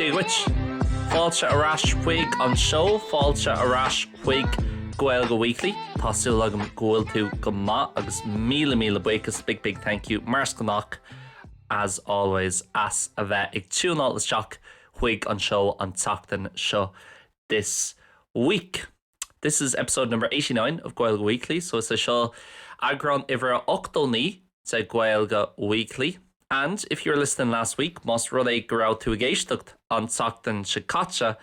Dia dhuit! Fáilte ar ais chuig an seó, fáilte ar ais chuig Gaeilge Weekly. Tá súil agam go bhfuil tú go maith agus míle míle buíochas, big big thank you, mar is gnách as always, as a bheith ag tiúnáil isteach chuig an seó an tseachtain seo, this week. This is episode number eighty nine of Gaeilge Weekly, so is é seo eagrán uimhir a ochtó naoi de Gaeilge Weekly. And if you were listening last week, más rud é go raibh tú ag éisteacht an tseachtain seo caite,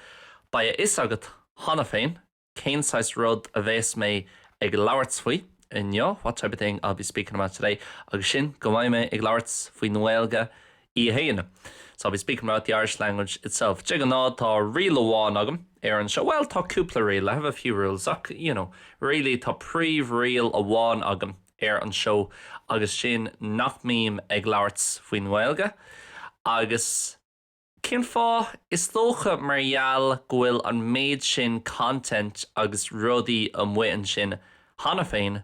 beidh a fhios agat cheana féin cén saghas rud a bheas mé ag labhairt faoi inniu, what type of thing I'll be speaking about today, agus sin go mbeidh mé ag labhairt faoin nGaeilge í fhéin. So I'll be speaking about the Irish language itself. De ghnáth tá riail amháin agam ar an seó, bhuel tá cúpla riail, I have a few rules, ach you know, really tá príomhriail amháin agam ar an seó agus sin nach mbím ag labhairt faoin nGaeilge agus cén fáth? Is dócha mar gheall go bhfuil an méid sin content agus rudaí amuigh ansin cheana féin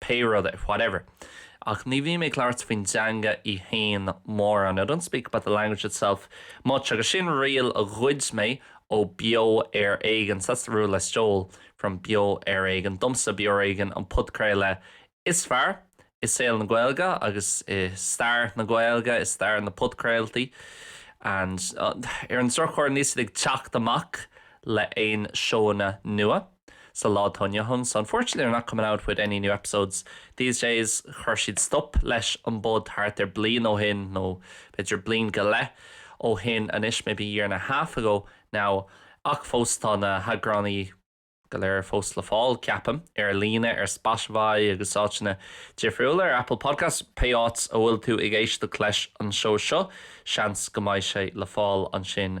pé rud é, whatever. Ach ní bhím ag labhairt faoin teanga í fhéin mórán, I don't speak about the language itself much agus sin riail a ghoid mé ó Beo Ar Éigean, that's the rule I stole from Beo Ar Éigean domsa, Beo Ar Éigean an podchraoladh is fearr i saol na Gaeilge agus i stair na Gaeilge, i stair na podchraoltaí and ar an drochuair níl siad ag teacht amach le aon seóanna nua. sa lá atá inniu ann so unfortunately they're not coming out with any new episodes these days chuir siad stop leis an bpod thart ar bliain ó shin nó b'fhéidir bliain go leith ó shin anois maybe year and a half ago now ach fós tá na heagránaí go léir fós le fáil ceapaim ar líne ar Spotify agus áiteanna difriúla ar Apple Podcasts pé áit a bhfuil tú ag éisteacht leis an seó seo seans go mbeidh sé le fáil ansin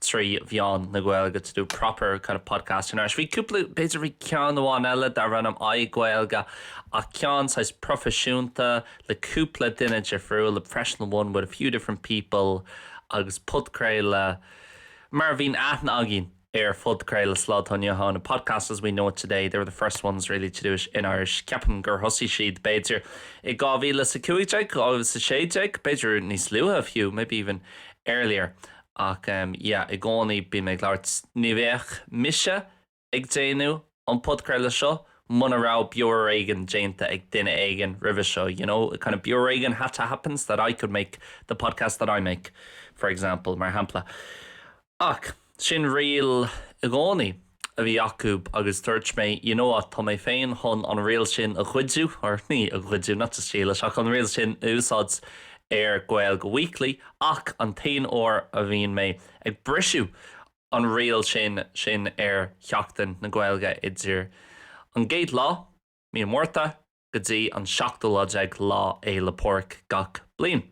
trí mheán na Gaeilge to do proper kind of podcast in Irish. Bhí cúpla, b'fhéidir bhí ceann amháin eile darbh ainm iGaeilge ach ceann saghas proifisiúnta le cúpla duine difriúil, a professional one with a few different people agus podchraoladh mar a bhíonn aithne againn ar phodchraoladh sa lá atá inniu ann, a podcast as we know it today. They were the first ones really to do it in Irish. Ceapaim gur thosaigh siad b'fhéidir i 2015, 2016, b'fhéidir níos luaithe fiú, maybe even earlier. Ach yeah i gcónaí bím ag labhairt, ní bheadh mise ag déanamh an podchraoladh seo muna raibh Beo Ar Éigean déanta ag duine éigin roimhe seo, you know, kind of Beo Ar Éigean had to happen so that I could make the podcast that I make, for example, mar shampla. Ach, sin riail i gcónaí. a bhí acu agus dúirt mé you know what, tá mé féin chun an riail sin a ghoidiú, or ní a ghoidiú, not to steal it, ach an riail sin a úsáid ar Gaeilge Weekly, ach an t-aon uair a bhíonn mé ag brisiú an riail sin sin, ar Sheachtain na Gaeilge idir an gcéad lá, mí an Mhárta, go dtí an seachtú lá déag Lá Fhéile Pádraig gach bliain.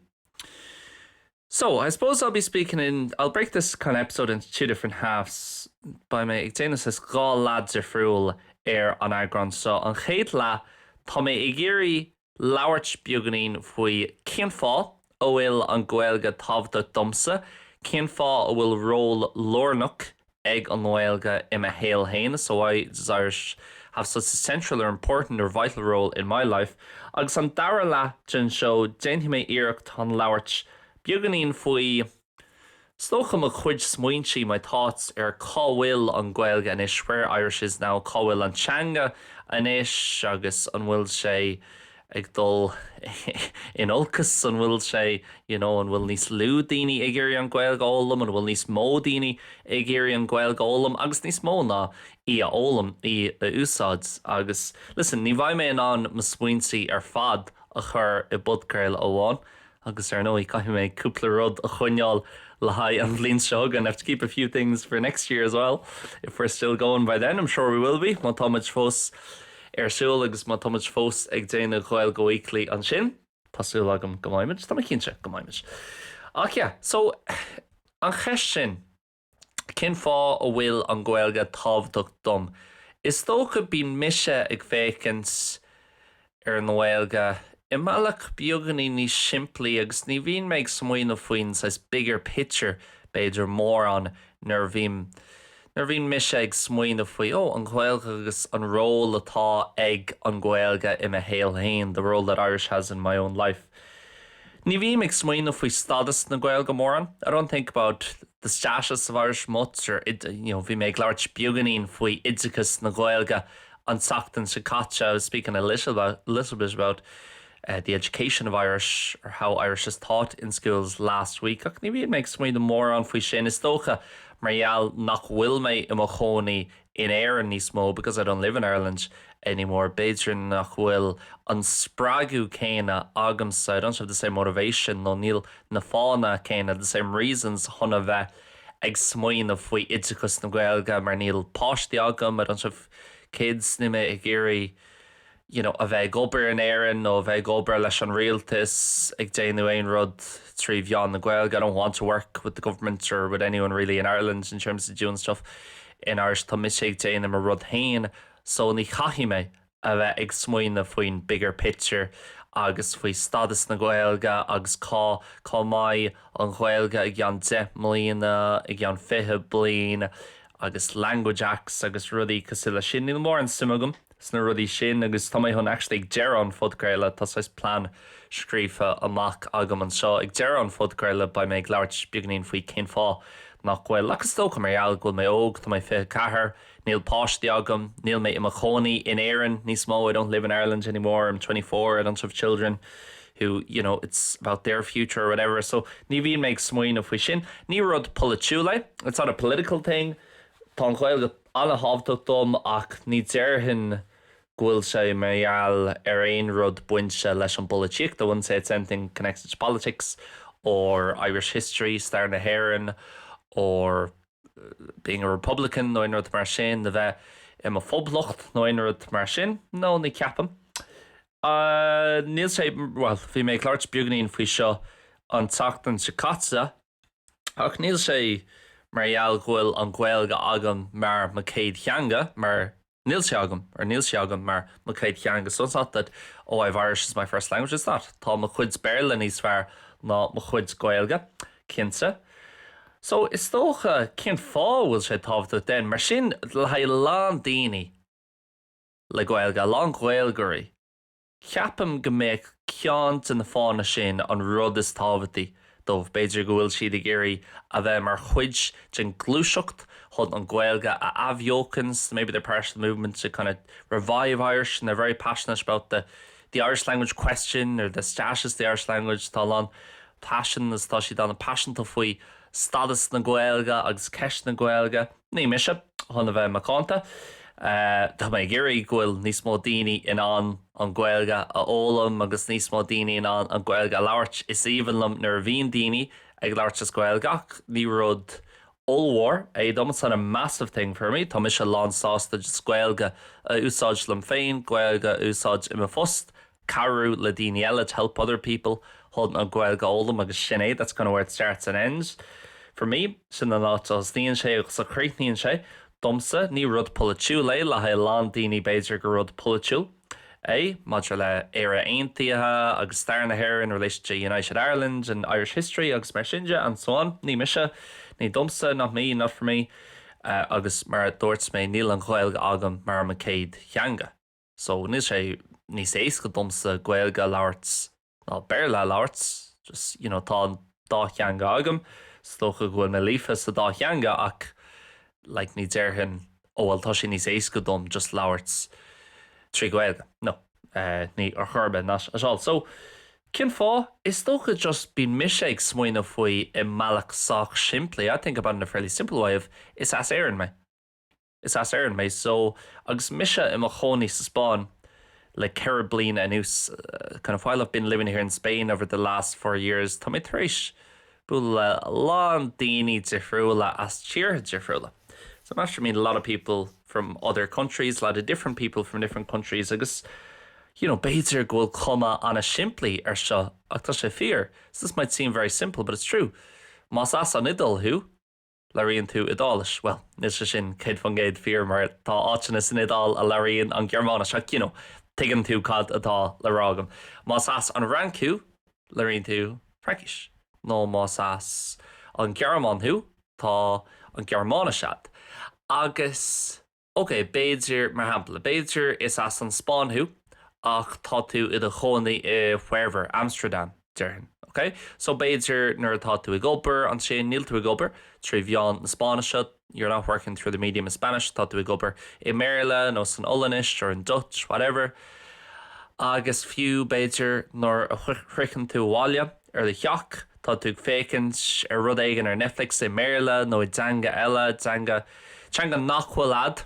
So, I suppose I'll be speaking in, I'll break this kind of episode into two different halves, beidh mé ag déanamh saghas dhá leath difriúil ar an eagrán seo. An chéad leath, tá mé ag iarraidh labhairt beagainín faoi cén fáth a bhfuil an Ghaeilge tábhachtach domsa, cén fáth a bhfuil ról lárnach ag an Gaeilge i mo shaol féin so why does Irish have such a central or important or vital role in my life? Agus an dara leath den seo, déanfaidh mé iarracht chun labhairt beagainín faoi is dócha mo chuid smaointe, my thoughts, ar cá bhfuil an Ghaeilge anois, where Irish is now, cá bhfuil an teanga anois agus an bhfuil sé. ag dul in olcas? An bhfuil sé, you know, an bhfuil níos lú daoine ag iarraidh an Ghaeilge a fhoghlaim, an bhfuil níos mó daoine ag iarraidh an Ghaeilge a fhoghlaim agus níos mó ná í a fhoghlaim, í a úsáid? Agus, listen, ní bheidh mé in ann mo smaointe ar fad a chur i bpodchraoladh amháin, Agus ar ndóigh, caithfidh mé cúpla rud a choinneáil le haghaidh an bhliain seo chugainn, I have to keep a few things for next year as well, if we're still going by then, I'm sure we will be, má tá muid fós ar siúl agus má tá muid fós ag déanamh Gaeilge Weekly ansin. Tá súil agam go mbeidh muid, tá mé cinnte go mbeidh muid. Ach yeah, so, an cheist sin. Cén fáth a bhfuil an Ghaeilge tábhachtach dom? Is dócha bíonn mise ag féachaint ar an Gaeilge i mbealach beagainín níos simplí agus ní bhíonn mé ag smaoineamh faoin saghas bigger picture b'fhéidir mórán nuair a bhím, nuair a bhíonn mise ag smaoineamh faoi, oh, an Ghaeilge agus an ról atá ag an Gaeilge i mo shaol féin, the role that Irish has in my own life. Ní bhíonn mé ag smaoineamh faoi stádas na Gaeilge mórán, I don't think about the status of Irish much or you know bhí mé ag labhairt beagainín faoi oideachas na Gaeilge an tseachtain seo caite I was speaking a little bit about the education of Irish or how Irish is taught in schools last week ach ní bhíonn mé ag smaoineamh mórán faoi sin, is dócha mar gheall nach bhfuil mé i mo chónaí in Éirinn níos mó because I don't live in Ireland anymore b'fhéidir nach bhfuil an spreagadh céanna agamsa I don't have the same motivation nó níl na fáthanna céanna the same reasons chun a bheith ag smaoineamh faoi oideachas na Gaeilge mar níl páistí agam I don't have kids níl mé ag iarraidh you know, a bheith ag obair in Éirinn nó a bheith ag obair leis an rialtas, ag déanamh aon rud trí mheán na Gaeilge, I don't want to work with the government or with anyone really in Ireland in terms of doing stuff in Irish, tá mise ag déanamh mo rud féin so ní chaithfidh mé a bheith ag smaoineamh faoin bigger picture agus faoi stadas na Gaeilge agus cá, cá mbeidh an Ghaeilge i gceann deich mbliana, i gceann fiche bliain agus language acts agus rudaí cosúil leis sin, níl mórán suim agam. sna rudaí sin agus tá mé chun actually ag deireadh an phodchraolta tá saghas plean scríofa amach agam anseo, ag deireadh an phodchraolta beidh mé ag labhairt beagainín faoi cén fáth nach bhfuil, ach is dócha mar gheall go bhfuil mé óg, tá mé 24, níl páistí agam, níl mé i mo chónaí in Éirinn níos mó, I don't live in Ireland anymore, I'm twenty four, I don't have children who, you know, it's about their future or whatever so ní bhíonn mé ag smaoineamh faoi sin. Ní rud polaitiúil é, it's not a political thing, tá an Ghaeilge. An-thábhachtach dom ach ní déarfainn go bhfuil sé mar gheall ar aon rud bainte leis an bpolaitíocht, I wouldn't say it's anything connected to politics or Irish history, stair na hÉireann, or being a republican nó aon rud mar sin, a bheith i mo phoblacht nó aon rud mar sin. No, ní ceapaim. Níl sé, bhuel, bhí mé ag labhairt beagainín faoi seo an tseachtain seo caite. Ach níl sé mar gheall go bhfuil an Ghaeilge agam mar mo céad theanga, mar níl sé agam, or níl sí agam mar mo céad theanga so it's not that oh I've Irish as my first language, it's not, tá mo chuid Béarla níos fearr ná mo chuid Gaeilge, cinnte. So is dócha, cén fáth a bhfuil sé tábhachtach then? Mar sin, le haghaidh a lán daoine le Gaeilge, a lán Gaeilgeoirí, Ceapaim go mbeadh ceann de na fáthanna sin an rud is tábhachtaí dóibh, b'fhéidir go bhfuil siad ag iarraidh a bheith mar chuid den ghluaiseacht chun an Ghaeilge a athbheochan, so maybe they're part of the movement to kind of revive Irish and they're very passionate about the the Irish language question or the status of the Irish language, tá a lán passion is tá siad an-paiseanta faoi stadas na Gaeilge agus ceist na Gaeilge. Ní mise, chun a bheith macánta. Tá mé ag iarraidh go bhfuil níos mó daoine in ann an Ghaeilge a fhoghlaim agus níos mó daoine in ann an Ghaeilge a labhairt. Is aoibhinn liom nuair a bhíonn daoine ag labhairt as Gaeilge ach ní rud ollmhór é dom, it's not a massive thing for me. Tá mise lán sásta just Gaeilge a úsáid liom féin, Gaeilge a úsáid i mo phost, cabhrú le daoine eile, to help other people, chun an Ghaeilge a fhoghlaim agus sin é, that's kind of where it starts and ends for me. Sin an áit a thosnaíonn sé agus a chríochnaíonn sé, domsa. Ní rud polaitiúil é, le haghaidh a lán daoine b'fhéidir gur rud polaitiúil é, maidir le Éire Aontaithe agus stair na hÉireann, in relation to United Ireland and Irish history agus mar sin de and so on. Ní mise, ní domsa, not me, not for me agus mar a dúirt mé níl an Ghaeilge agam mar mo chéad theanga. So, níl sé níos éasca domsa Gaeilge a labhairt ná Béarla a labhairt, just, you know, tá an dá theanga agam, is dócha go bhfuil mé líofa sa dá theanga ach like ní déarfainn oh well tá sé níos éasca dom just labhairt trí Ghaeilge, no, níl ar chor ar bith, not at all. So, cén fáth? Is dócha just bíonn mise ag smaoineamh faoi i mbealach sách simplí, I think about it in a fairly simple way of is as Éirinn mé. Is as Éirinn mé so agus mise i mo chónaí sa Spáinn le ceithre bliana anuas kind of while I've been living here in Spain over the last four years tá mé tar éis bualadh le a lán daoine difriúla as tíortha difriúla so I'm after meeting a lot of people from other countries, a lot of different people from different countries agus you know b'fhéidir go bhfuil cuma an-simplí ar seo ach tá sé fíor so this might seem very simple but it's true más as an Iodáil thú, Labhraíonn tú Iodáilis. Bhuel, níl sé sin céad faoin gcéad fíor mar tá áiteanna san Iodáil a labhraíonn an Ghearmáinis ach, you know, tuigeann tú cad atá le rá agam. Más as an Fhrainc thú, labhraíonn tú Fraincis. Nó más as an Ghearmáin thú, tá an Ghearmáinis agat. Agus. OK, b'fhéidir, mar shampla, b'fhéidir is as an Spáinn thú ach tá tú i do chónaí i wherever, Amsterdam, déarfainn. OK? So b'fhéidir nuair atá tú ag obair ansin, níl tú ag obair trí mheán na Spáinnise, you're not working through the medium of Spanish, tá tú ag obair i mBéarla nó san Ollainnis or in Dutch, whatever. Agus fiú, b'fhéidir, nuair a shroicheann tú abhaile, do theach, tá tú ag féachaint ar rud éigin ar Netflix i mBéarla nó i dteanga eile, teanga, teanga nach bhfuil agat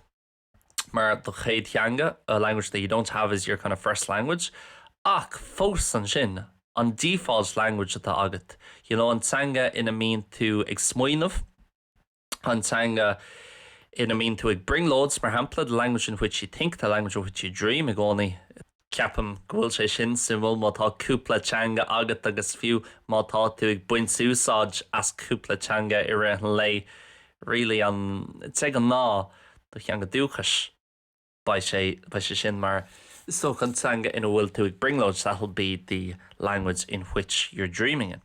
mar do chéad theanga, a language that you don't have as your kind of first language. Ach fós ansin, an default language atá agat, you know, an teanga ina mbíonn tú ag smaoineamh, an teanga ina mbíonn tú ag brionglóid, mar shampla, the language in which you think, the language in which you dream, i gcónaí. Ceapaim go bhfuil sé sin suimiúil má tá cúpla teanga agat agus fiú má tá tú ag baint úsáid as cúpla teanga i rith an lae, really, de ghnáth, do theanga dúchais, beidh sé, beidh sé sin mar so an teanga ina bhfuil tú ag brionglóid, that'll be the language in which you're dreaming in.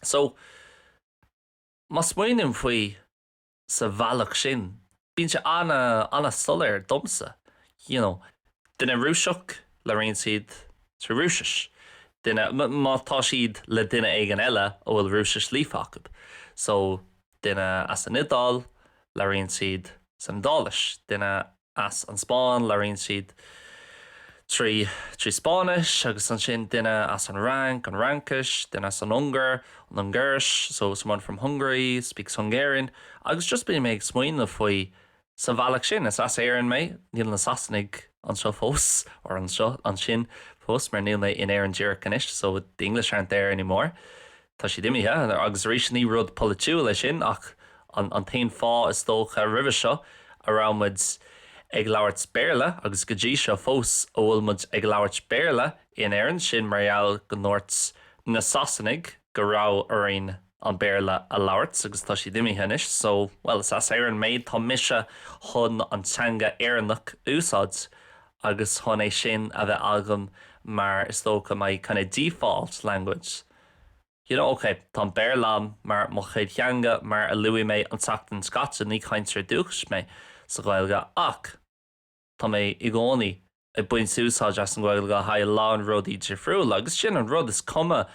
So. Má smaoiním faoi sa bhealach sin, bíonn sé an-soiléir domsa, you know, duine Rúiseach, labhraíonn siad sa Rúisis, duine, má tá siad le duine éigin eile a bhfuil Rúisis líofa acu, so duine as an Iodáil, labhraíonn siad san Iodáilis, duine. as an Spáinn. Labhraíonn siad trí trí Spáinnis agus ansin duine as an Fhrainc, an Fhraincis, duine as an Ungáir, an Ungáiris, so someone from Hungary speaks Hungarian agus just bíonn mé ag smaoineamh faoi sa bhealach sin. Is as Éirinn mé, níl na Sasanaigh anseo fós or so, ansin fós mar níl mé in Éirinn díreach anois so the English aren't there anymore. Tá siad imithe, agus arís ní rud polaitiúil é sin ach an t-aon fáth is dócha roimhe seo a raibh muid ag labhairt Béarla agus go dtí seo fós a bhfuil muid ag labhairt Béarla in Éirinn, sin mar gheall go ndúirt na Sasanaigh go raibh orainn an Béarla a labhairt agus tá siad imithe anois so, bhuel is as Éirinn mé, tá mise chun an teanga Éireannach a úsáid agus chun é sin a bheith agam mar is dócha my kind of default language. You know, ok, tá an Béarla agam mar mo chéad theanga, mar a luaigh mé an tseachtain seo caite, ní cainteoir dúchais mé sa Ghaeilge, ach tá mé i gcónaí ag baint úsáid as an Ghaeilge le haghaidh a lán rudaí difriúla, agus sin an rud, is cuma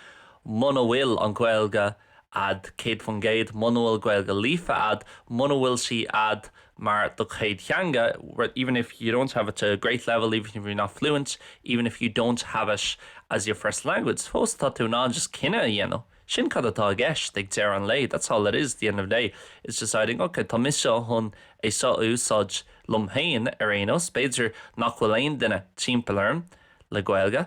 muna bhfuil an Ghaeilge a'd céad faoin gcéad, muna bhfuil Gaeilge líofa a'd, muna bhfuil sí a'd mar do chéad theanga even if you don't have it to a great level, even if you're not fluent, even if you don't have it as your first language fós tá tú in ann just cinneadh a dhéanamh, sin cad atá i gceist ag deireadh an lae that's all it is at the end of the day is deciding ok tá mise chun é seo a úsáid liom féin ar aon nós b'fhéidir nach bhfuil aon duine timpeall orm le Gaeilge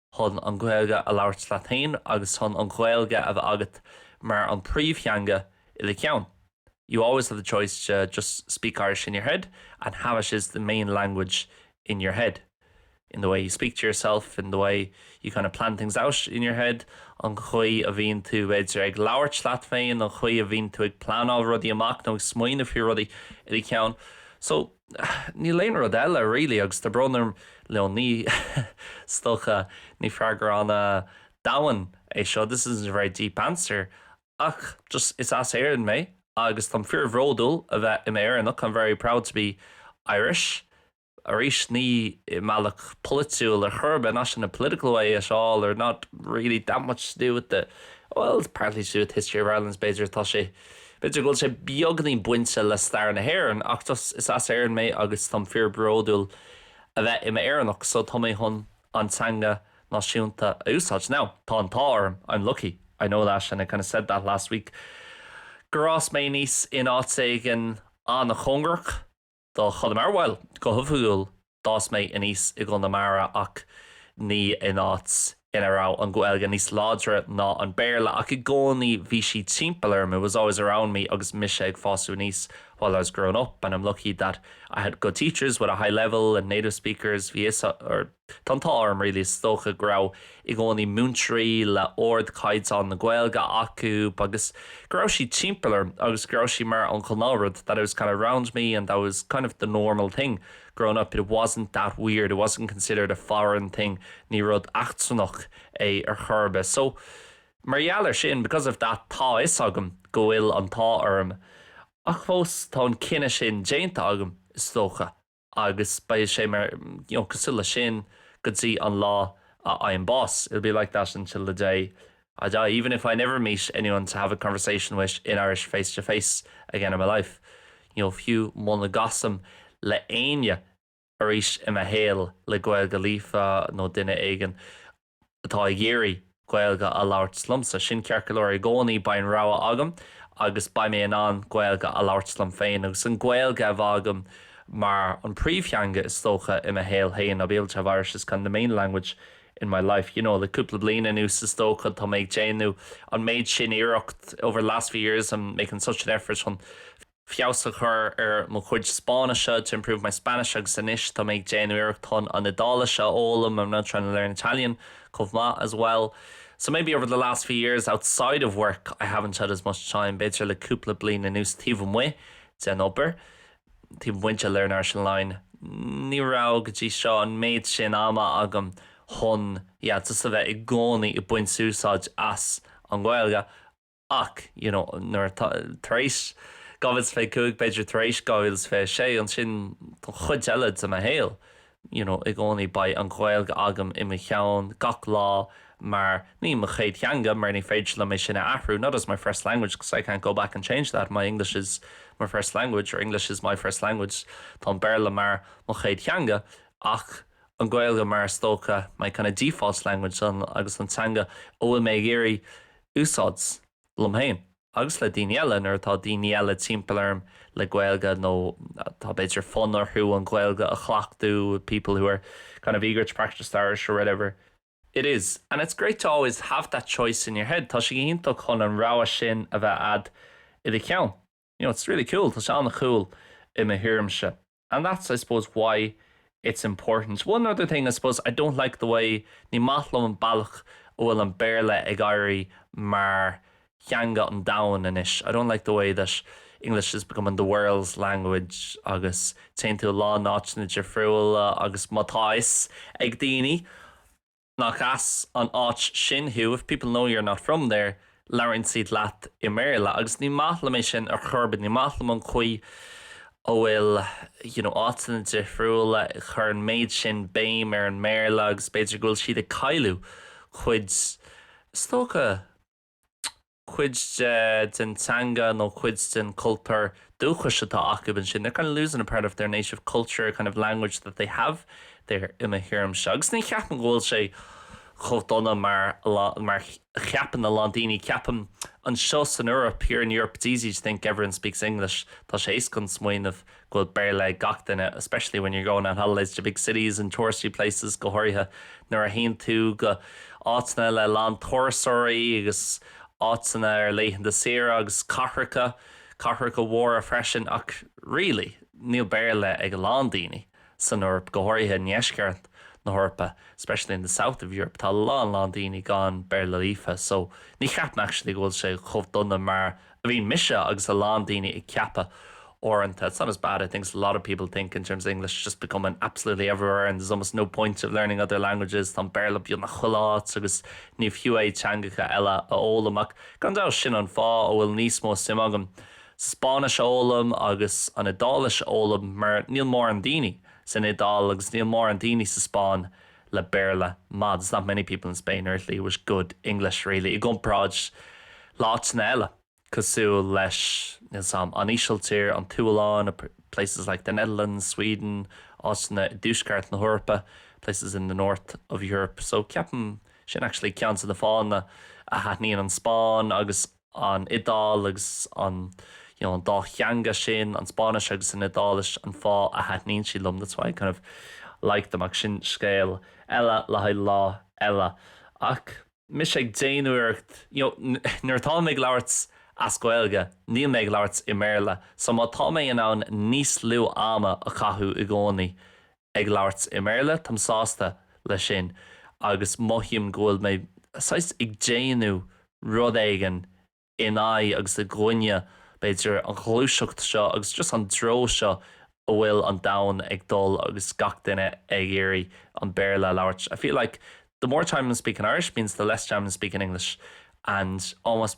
chun an Ghaeilge a labhairt leat féin agus chun an Ghaeilge a bheith agat mar an príomhtheanga i do cheann you always have the choice to just speak Irish in your head and have it as the main language in your head in the way you speak to yourself in the way you kind of plan things out in your head an chaoi a bhíonn tú b'fhéidir ag labhairt leat féin an chaoi a bhíonn tú ag pleanáil rudaí amach nó ag smaoineamh faoi rudaí i do cheann so Níl aon rud eile really agus tá brón orm like ní, is dócha ní freagra an-domhain é seo this isn't a very deep answer ach just is as Éirinn mé agus táim fíor bhródúil a bheith im Éireannach I'm very proud to be Irish arís ní i mbealach polaitiúil ar chor ar bith not in a political way at all or not really that much to do with the well it's partly to do with the history of Ireland so b'fhéidir tá sé B'fhéidir go bhfuil sé beagainín bainte le stair na hÉireann ach just, is as Éirinn mé agus táim fíor bródúil a bheith i m'Éireannach so tá mé chun an teanga náisiúnta a úsáid. Now, tá an t-ádh orm, I'm lucky, I know that and I kind of said that last week, gur fhás mé aníos in áit éigin an-chóngarach. Do chur mar, bhuel, go hoifigiúil d'fhás mé aníos i gConamara ach ní in áit ina raibh an Ghaeilge níos láidre ná an Béarla ach i gcónaí bhí sí timpeall orm, it was always around me agus mise ag fástu aníos, while I was growing up and I'm lucky that I had good teachers with a high level and native speakers tá a fhios Tá an t-ádh orm really is dócha go raibh i gcónaí múinteoirí le ardchaighdeán na Gaeilge acu agus go raibh sí timpeall orm agus go raibh sí mar an ghnáthrud that it was kind of around me and that was kind of the normal thing growing up it wasn't that weird it wasn't considered a foreign thing ní rud eachtrannach é ar chor ar bith so mar gheall ar sin because of that tá a fhios agam go bhfuil an t-ádh orm ach fós tá an cinneadh sin déanta agam is dócha. agus beidh sé mar, you know, cosúil le sin go dtí an lá a fhaighim bás, it'll be like that until the day I die, even if I never meet anyone to have a conversation with in Irish face to face again in my life, you know, fiú muna gcasfaim le éinne arís i mo shaol le Gaeilge líofa nó duine éigin atá ag iarraidh Gaeilge a labhairt liomsa. Sin ceart go leor i gcónaí, beidh an rogha agam agus beidh mé in ann Gaeilge a labhairt liom féin agus an Ghaeilge a bheith agam mar an príomhtheanga is dócha i mo shaol féin, I'll be able to have Irish as kind of the main language in my life, you know. Le cúpla bliain anuas is dócha tá mé ag déanamh an méid sin iarracht, over the last few years I'm making such an effort chun. feabhas a chur ar mo chuid Spáinnise, to improve my Spanish, agus anois tá mé ag déanamh iarracht chun an Iodáilis a fhoghlaim, I'm now trying to learn Italian, chomh maith, as well. So maybe over the last few years, outside of work, I haven't had as much time, b'fhéidir le cúpla bliain anuas taobh amuigh den obair, taobh amuigh de Learn Irish Online, ní raibh go dtí seo an méid sin ama agam chun, yeah, just a bheith i gcónaí ag baint úsáid as an Ghaeilge. ach you know nuair, tar éis 2025 b'fhéidir tar éis 2026 ansin don chuid eile de mo shaol you know i gcónaí beidh an Ghaeilge agam i mo cheann gach lá mar, ní mo chéad theanga mar ní féidir liom é sin a athrú not as my first language cause I can't go back and change that, my English is my first language or English is my first language tá an Béarla mar mo chéad theanga ach an Ghaeilge mar is dócha my kind of default language agus an teanga a bhfuil mé ag iarraidh úsáid, liom féin agus le daoine eile, nuair atá daoine eile timpeall orm le Gaeilge nó atá b'fhéidir fonn orthu an Ghaeilge a chleachtú, people who are kind of eager to practice their Irish or whatever it is. And it's great to always have that choice in your head, tá sé iontach chun an rogha sin a bheith a'd i do cheann. You know, it's really cool, tá sé an-cool i mo thuairimse. and that's I suppose why it's important. One other thing I suppose, I don't like the way, ní maith liom an bealach a bhfuil an Béarla ag éirí mar theanga an domhain anois, I don't like the way that English is becoming the world's language agus téann tú i lán áiteanna difriúla agus má tá fhios ag daoine, Nach as an áit sin thú, if people know you're not from there, labhraíonn siad leat i mBéarla. Agus ní maith liom é sin ar chor ar bith. Ní maith liom an chaoi a bhfuil áiteanna difriúla ag cur an méid sin béim ar an mBéarla agus b'fhéidir go bhfuil siad ag cailleadh cuid is dócha, cuid de, den teanga nó cuid den cultúr dúchais atá acub ansin. They're kind of losing a part of their native culture, kind of language that they have there i mo thuairimse. Agus ní cheapaim go bhfuil sé chomh dona mar a cheapann a lán daoine. Ceapaim anseo san Eoraip, here in Europe, it's easy to think everyone speaks English. Tá sé éasca smaoineamh go go bhfuil Béarla ag gach duine, especially when you're going on holidays to big cities and touristy places, go háirithe nuair a théann tú go áiteanna le a lán turasóirí agus áiteanna ar laethanta saoire agus cathracha, cathracha mhóra freisin ach really níl Béarla ag a lán daoine san Eoraip, go háirithe i ndeisceart na hEorpa, especially in the south of Europe, tá a lán lán daoine gan Béarla líofa so ní cheapaim actually go bhfuil sé chomh dona mar bhíonn mise agus a lán daoine ag ceapadh uaireanta it's not as bad I think as a lot of people think in terms of English just becoming absolutely everywhere and there's almost no point of learning other languages tá an Béarla beagnach chuile áit agus ní fiú é teangacha eile a fhoghlaim ach gan dabht sin an fáth a bhfuil níos mó suim agam sa Spáinnis a fhoghlaim agus an Iodáilis a fhoghlaim mar níl mórán daoine san Iodáil agus níl mórán daoine sa Spáinn le Béarla maith, there's not many people in Spain or Italy with good English really, i gcomparáid le áiteanna eile cosúil leis níl fhios 'am, an Ísiltír, an tSualainn, places like the Netherlands, Sweden, áiteanna i dtuaisceart na hEorpa, places in the north of Europe. So ceapaim sin actually ceann de na fáthanna a thaitníonn an Spáinn agus. an Iodáil agus an an dá theanga sin, an Spáinnis agus an Iodáilis, an fáth a thaitníonn siad liom that's why I kind of like them ach sin scéal eile le haghaidh lá eile. Ach mise ag déanamh iarracht you know nuair atá mé ag labhairt as Gaeilge, níl mé ag labhairt i mBéarla so má tá mé in ann níos lú ama a chaitheamh i gcónaí ag labhairt i mBéarla, táim sásta leis sin agus mothaím go bhfuil mé saghas ag déanamh rud éigin in aghaidh agus i gcoinne b'fhéidir an ghluaiseacht seo agus just an treo seo a bhfuil an domhan ag dul agus gach duine ag iarraidh an Béarla a labhairt. I feel like the more time I'm speaking Irish means the less time I'm speaking English and almost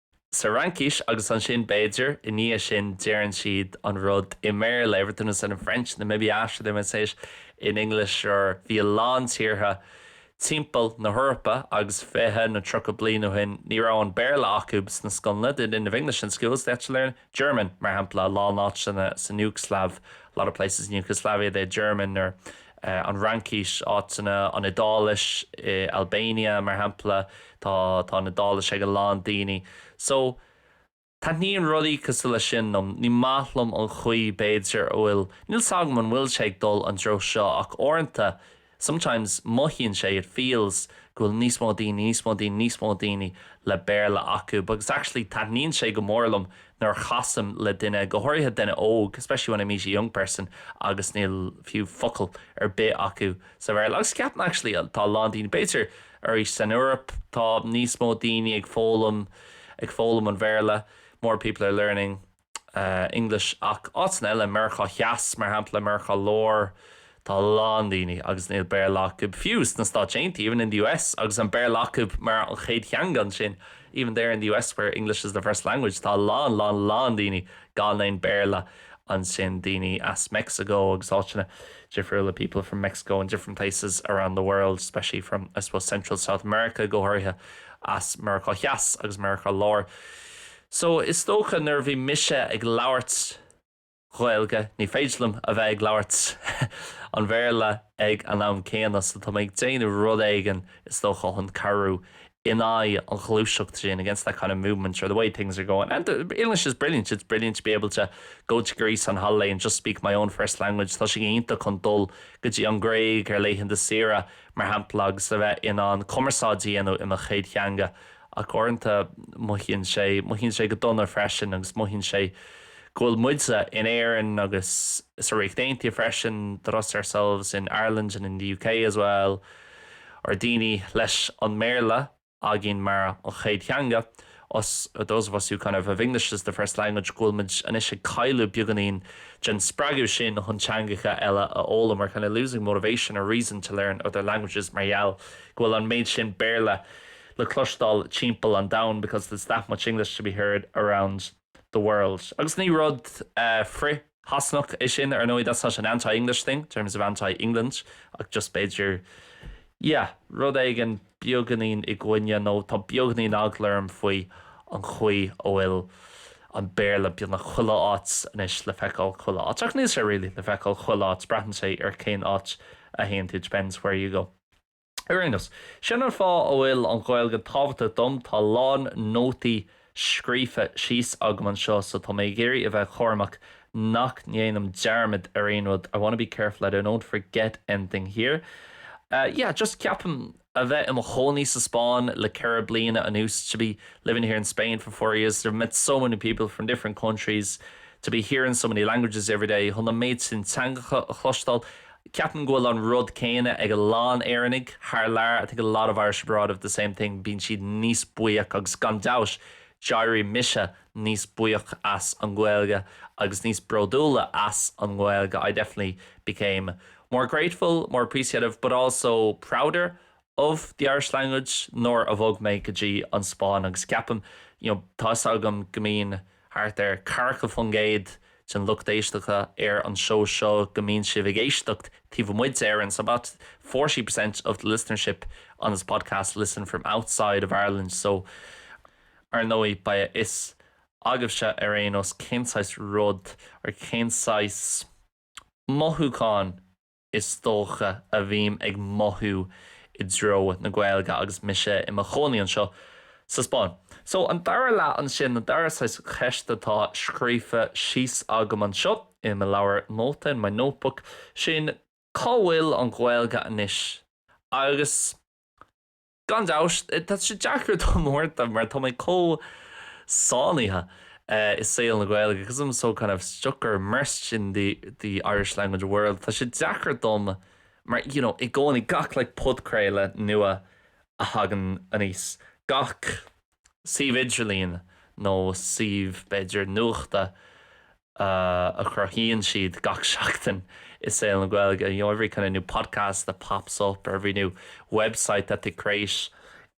sa Fhraincis agus ansin, b'fhéidir, i ndiaidh sin, deireann siad an rud i mBéarla, everything was said in French and then maybe after they might say it in English or bhí a lán tíortha timpeall na hEorpa agus fiche nó tríocha bliain ó shin ní raibh an Béarla acu sna scoileanna, they didn't have English in schools, they had to learn. German, mar shampla, a lán áiteanna san Iúgslaiv, a lot of places in Yugoslavia, they had German, or an Fhraincis, áiteanna, an Iodáilis, in Albania, mar shampla, tá, tá an Iodáilis ag a lán daoine. So, taitníonn rudaí cosúil leis sin liom. Ní maith liom an chaoi, b'fhéidir, a bhfuil, níl 's agam an bhfuil sé ag dul an dtreo seo ach uaireanta, Sometimes mothaíonn sé, it feels, go bhfuil níos mó daoine, níos mó daoine, níos mó daoine le Béarla acu. Because actually taitníonn sé go mór liom nuair a chasaim le duine, go háirithe duine óg, especially when I meet a young person, agus níl fiú focal ar bith acu sa Bhéarla. Agus ceapaim actually tá a lán daoine, b'fhéidir arís san Eoraip tá níos mó daoine ag foghlaim, ag foghlaim an Bhéarla, more people are learning English ach áiteanna eile, Meiriceá Theas, mar shampla, Meiriceá Láir, tá a lán daoine agus níl Béarla acu fiú sna Stáit Aontaithe, even in the US, agus an Béarla acu mar an chéad theanga ansin, even there in the US where English is the first language, tá a lán, lán, lán daoine gan aon Béarla ansin, daoine as Mexico agus áiteanna difriúla, people from Mexico and different places around the world, especially from, I suppose, Central South America, go háirithe as Meiriceá Theas agus Meiriceá Láir. So, is dócha nuair a bhí mise ag labhairt Gaeilge, ní féidir liom a bheith ag labhairt an Bhéarla ag an am céanna, so tá mé ag déanamh rud éigin is dócha chun cabhrú in aghaidh an ghluaiseacht sin, against that kind of movement or the way things are going. And English is brilliant, it's brilliant to be able to go to Greece on holiday and just speak my own first language. Tá sé iontach chun dul go dtí an Ghréig ar laethanta saoire, mar shampla, agus a bheith in ann cumarsáid a dhéanamh i mo chéad theanga. Ach uaireanta mothaíonn sé, mothaíonn sé go dona freisin agus mothaíonn sé go bhfuil muide, in Éirinn agus sa Ríocht Aontaithe freisin, that us, ourselves, in Ireland and in the UK as well, ar, daoine leis an mBéarla againn mar an chéad theanga, us, those of us who kind of have English as the first language, go bhfuil muid anois ag cailleadh beagáinín den spreagadh sin chun teangacha eile a fhoghlaim, we're kind of losing motivation or reason to learn other languages mar gheall go bhfuil an méid sin Béarla le cloisteáil timpeall an domhain because there's that much English to be heard around the world. Agus ní rud frith-Shasanach é sin, ar ndóigh, that's not an anti-English thing in terms of anti-England, ach just b'fhéidir, yeah, rud éigin beagainín i gcoinne nó tá beagainín eagla orm faoi an chaoi a bhfuil an Béarla beagnach chuile áit anois, le feiceáil chuile áit. Ach níl sé really le feiceáil chuile áit, braitheann sé ar cén áit a théann tú, it depends where you go. Ar aon nós, sin an fáth a bhfuil an Ghaeilge tábhachtach dom. Tá a lán nótaí scríofa síos agam anseo so tá mé ag iarraidh a bheith cúramach nach ndéanaim dearmad ar aon rud, I wanna be careful that I don't forget anything here. Yeah, just ceapaim a bheith i mo chónaí sa Spáinn le ceithre bliana anuas, to be living here in Spain for four years, to have met so many people from different countries, to be hearing so many languages every day, chun an méid sin teangacha a chloisteáil Ceapaim go bhfuil an rud céanna ag a lán Éireannaigh thar lear, I think a lot of Irish abroad have the same thing, bíonn siad níos buíoch agus gan dabhts d'éirigh mise níos buíoch as an Gaeilge agus níos bródúla as an Gaeilge, I definitely became more grateful, more appreciative but also prouder of the Irish language nuair a bhog mé go dtí an Spáinn agus ceapaim, you know, tá 'fhios agam go mbíonn. thart ar 40% den lucht éisteacha ar an seó seo go mbíonn sibh ag éisteacht taobh amuigh d'Éirinn, so about 40% of the listenership on this podcast listen from outside of Ireland, so ar ndóigh beidh a fhios agaibhse ar aon nós cén saghas rud or cén saghas mothúchán is dócha, a bhím ag mothú i dtreo na Gaeilge agus mise i mo chónaí anseo sa Spáinn. So, an dara leath ansin, an dara saghas cheist atá scríofa síos agam anseo i mo leabhar nóta, in my notebook, sin, cá bhfuil an Ghaeilge anois? Agus. Gan dabhts, tá sé deacair dom a rá mar tá mé chomh sáinnithe i saol na Gaeilge because I'm so kind of stuck or immersed in the Irish language world. Tá sé deacair dom mar you know i gcónaí gach like podchraoladh nua a thagann aníos, gach suíomh idirlín nó suíomh b'fhéidir nuachta, a chruthaíonn siad gach seachtain i saol na Gaeilge, you know, every kind of new podcast that pops up or every new website that they create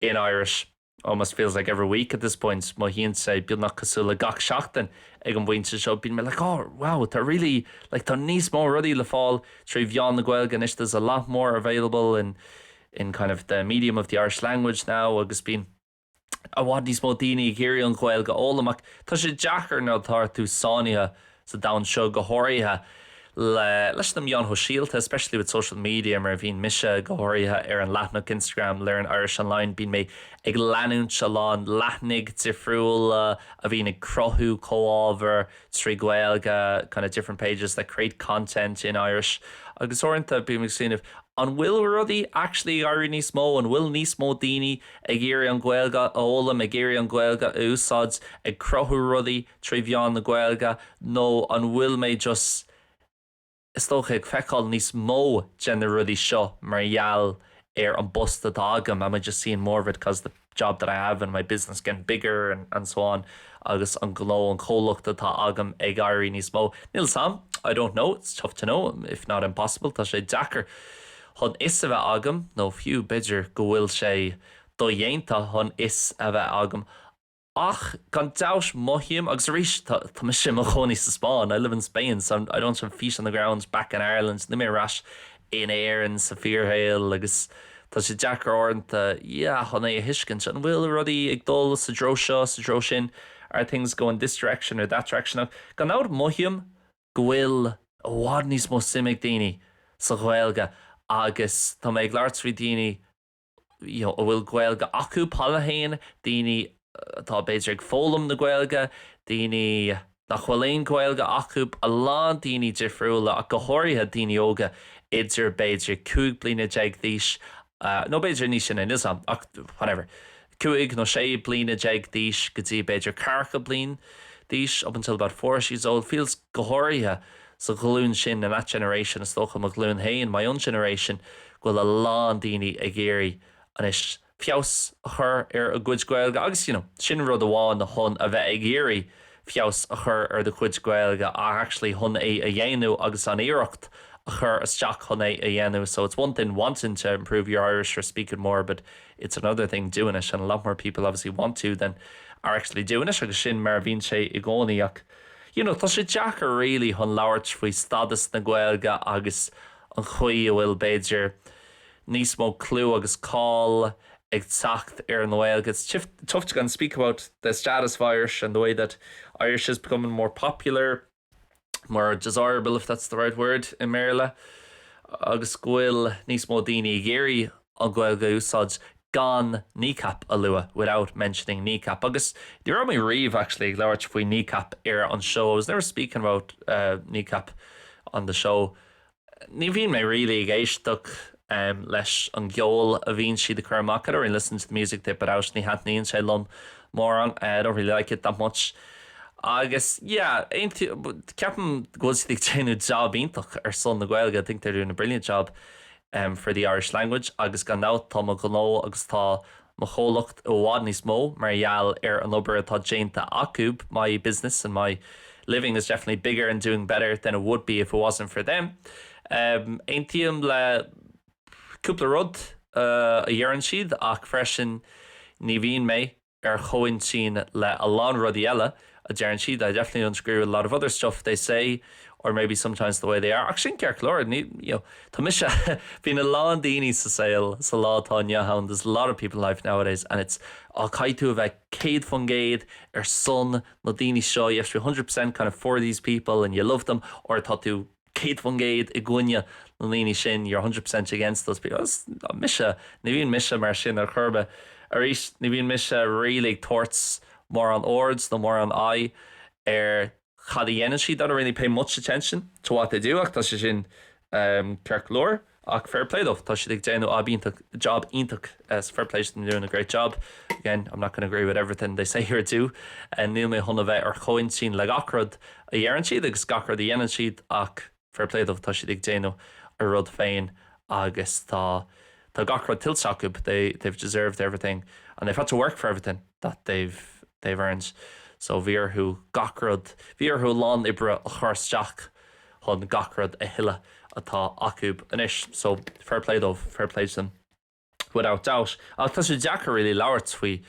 in Irish almost feels like every week at this point, mothaíonn sé beagnach cosúil le gach seachtain ag an bpointe seo, bíonn mé like, oh, wow, tá really, like, tá níos mó rudaí le fáil trí mheán na Gaeilge anois, there's a lot more available in, in kind of the medium of the Irish language now agus bíonn I bhfad níos mó daoine ag iarraidh an Ghaeilge a fhoghlaim ach tá sé deacair nuair atá tú sáinnithe sa domhan seo go háirithe leis na meáin shóisialta especially with social media mar a bhíonn mise go háirithe ar an leathnach Instagram Learn Irish Online bíonn mé ag leanúint a lán leathnaigh difriúla a bhíonn ag cruthú comhábhar trí Ghaeilge kind of different pages that create content in Irish agus uaireanta bím ag smaoineamh an bhfuil rudaí actually ag éirí níos mó an bhfuil níos mó daoine ag Ag iarraidh an Ghaeilge a fhoghlaim, ag iarraidh an Ghaeilge a úsáid, ag cruthú rudaí trí mheán na Gaeilge, nó an bhfuil mé just, is dócha, ag feiceáil níos mó de na rudaí seo mar gheall ar an bpost atá agam, am I just seeing more of it cause the job that I have in my business getting bigger and so on agus an gnó, an comhlacht atá agam ag éirí níos mó? Níl 's am, I don't know, it's tough to know, if not impossible, tá sé deacair. chun fhios a bheith agam, nó fiú b'fhéidir go bhfuil sé dodhéanta chun fhios a bheith agam, ach gan dabht mothaím, agus arís, tá mise i mo chónaí sa Spáinn, I live in Spain, so I'm, I don't have feet on the ground back in Ireland, níl mé ar ais in Éirinn sa fíorshaol agus tá sé deacair uaireanta, yeah, chun é a thuiscint, an bhfuil rudaí ag dul sa treo seo, sa treo sin, are things going this direction or that direction, ach gan dabht mothaím go bhfuil i bhfad níos mó suim ag daoine sa Ghaeilge agus tá mé ag labhairt faoi daoine you know a bhfuil Gaeilge acu, Béarla féin, daoine atá b'fhéidir ag foghlaim na Gaeilge, daoine nach bhfuil aon Ghaeilge acu, a lán daoine difriúla ach go háirithe daoine óga idir b'fhéidir cúig bliana déag d'aois nó b'fhéidir níos sine, níl 's 'am ach whatever. cúig nó sé bliana déag d'aois go dtí b'fhéidir ceathracha bliain d'aois up until about forty years old feels go háirithe sa ghlúin sin in that generation is dócha mo ghlúin féin my own generation go bhfuil a lán daoine ag iarraidh anois feabhas a chur ar a gcuid Gaeilge agus you know sin rud amháin chun a bheith ag iarraidh feabhas a chur ar do chuid Gaeilge ach actually chun é a dhéanamh agus an iarracht a chur isteach chun é a dhéanamh so it's one thing wanting to improve your Irish or speak it more but it's another thing doing it and a lot more people obviously want to than are actually doing it agus sin mar a bhíonn sé i gcónaí ach you know tá sé deacair really chun labhairt faoi stádas na Gaeilge agus an chaoi a bhfuil b'fhéidir níos mó clú agus cáil ag teacht ar an nGaeilge it's tif- tough to go and speak about the status of Irish and the way that Irish is becoming more popular more desirable if that's the right word i mBéarla agus go bhfuil níos mó daoine ag iarraidh an Ghaeilge a úsáid gan Kneecap a lua without mentioning Kneecap agus ní raibh mé riamh actually ag labhairt faoi Kneecap ar an seó I was never speaking about uh, Kneecap on the show ní bhíonn mé really ag éisteacht leis an gceol a bhíonn siad ag cur amach I don't really listen to the music they put out ní thaitníonn sé liom mórán I don't really like it that much agus yeah ceapaim go bhfuil siad ag déanamh job iontach ar son na Gaeilge I think they're doing a brilliant job for the Irish language agus gan dabht tá mo ghnó agus tá mo chomhlacht i bhfad níos mó mar gheall ar an obair atá déanta acu, my business and my living is definitely bigger and doing better than it would be if it wasn't for them. Aontaím le cúpla rud a dheireann siad ach freisin ní bhíonn mé ar chomhintinn le a lán rudaí eile. a deireann siad, I definitely don't agree with a lot of other stuff they say or maybe sometimes the way they are ach sin ceart go leor, you know, tá mise bíonn a lán daoine sa saol sa lá atá inniu ann there's a lot of people in life nowadays and it's á caithfidh tú a bheith céad faoin gcéad ar son na daoine seo you have to be hundred percent kind of for these people and you love them or tá tú 100% i gcoinne na ndaoine sin, you're 100% against those people. Agus mise, ní bhíonn mise mar sin ar chor ar bith. Arís, ní bhíonn mise really ag tabhairt mórán aird nó mórán aghaidh ar cad a dhéanann siad, I don't really pay much attention to what they do, ach tá sé sin ceart go leor. Ach fair play dóibh, tá siad ag déanamh ab iontach, job iontach, so fair play they're doing a great job. Again, I'm not going to agree with everything they say or do, níl mé chun a bheith ar chomhintinn le gach rud a dheireann siad agus gach rud a dhéanann siad ach fair play dóibh, tá siad ag déanamh a rud féin agus tá tá gach rud tuillte acu, they they've deserved everything and they've had to work for everything that they've they've earned so bhí orthu gach rud, bhí orthu a lán oibre a chur isteach. chun gach rud a thuilleadh atá acu anois so fair play dóibh, fair play to them without doubt. Ach tá sé deacair really labhairt faoi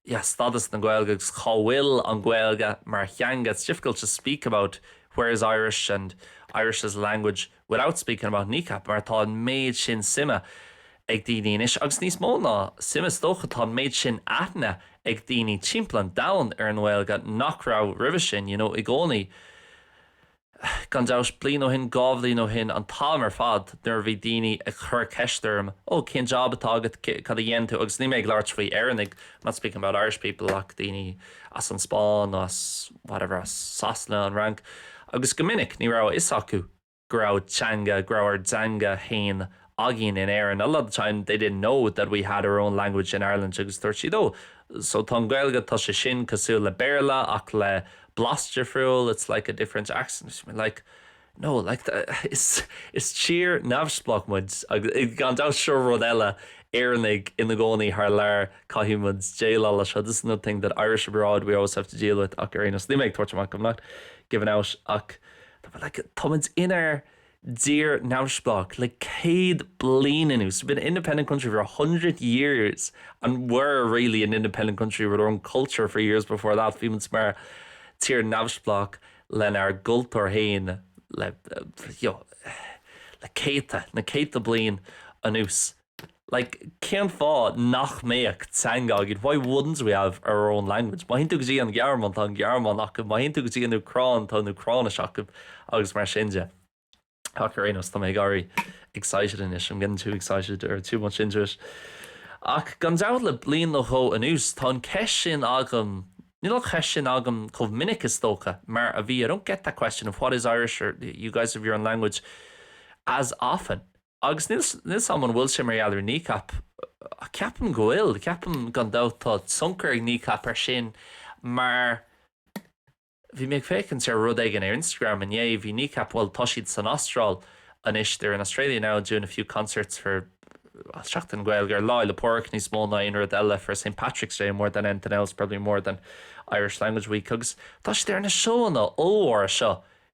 yeah stádas na Gaeilge agus cá bhfuil an Ghaeilge mar theanga, it's difficult to speak about where is Irish and Irish as a language without speaking about Kneecap mar tá an méid sin suime ag daoine anois agus níos mó ná suime is dócha tá an méid sin aithne ag daoine timpeall an domhain ar an nGaeilge nach raibh roimhe sin, you know i gcónaí. Gan dabht, bliain ó shin, dhá bhliain ó shin, an t-am ar fad, nuair a bhí daoine ag cur ceist orm, oh, cén job atá agat, cad a dhéanann tú, agus níl mé ag labhairt faoi Éireannaigh, I'm not speaking about Irish people, ach daoine as an Spáinn nó as whatever, as Sasana, an Fhrainc, agus go minic ní raibh a fhios acu go raibh teanga, go raibh ár dteanga fhéin againn in Éirinn a lot of time they didn't know that we had our own language in Ireland agus dúirt siad oh so tá an Gaeilge tá sé sin cosúil le Béarla ach le blas difriúil it's like a different accent is mé like no like the, is, is tír neamhspleách muid agus gan dabht seo rud eile Éireannaigh ina gcónaí thar lear caithfidh muid déileáil le seo this is another thing that Irish abroad we always have to deal with ach ar aon nós níl mé ag tabhairt amach I'm not giving out ach tá like tá muid inár dtír neamhspleách le céad bliain anuas, we've been an independent country for a hundred years, and we're really an independent country with our own culture for years before that, bhí muid mar tír neamhspleách lenár gcultúr féin le, you know, le céadta, na céadta bliain anuas. like cén fáth nach mbeadh teanga againn? Why wouldn't we have our own language? Má théann tú go dtí an Ghearmáin, tá an Ghearmáinis acu, má théann tú go dtí an Úcráin, tá an Úcráinis acu agus mar sin de. Ach ar aon nós, tá mé ag éirí excited anois, I'm getting too excited or too much into it. Ach gan dabht le bliain nó dhó anuas, tá an ceist sin agam, níl an cheist sin agam chomh minic is dócha mar a bhí, I don't get that question of what is Irish or you guys have your own language as often. Agus níl 's agam an bhfuil sé mar gheall ar Kneecap ach ceapaim go bhfuil, ceapaim gan dabht. Tá tionchar ag Kneecap ar sin mar bhí mé ag féachaint ar rud éigin ar Instagram inné, bhí Kneecap, bhuel tá siad san Astráil anois, they're in Australia now doing a few concerts for well Seachtain na Gaeilge, ar Lá Fhéile Pádraig níos mó ná aon rud eile, for St Patrick's Day more than anything else, probably more than Irish Language Week agus tá siad ar na seóanna ollmhóra seo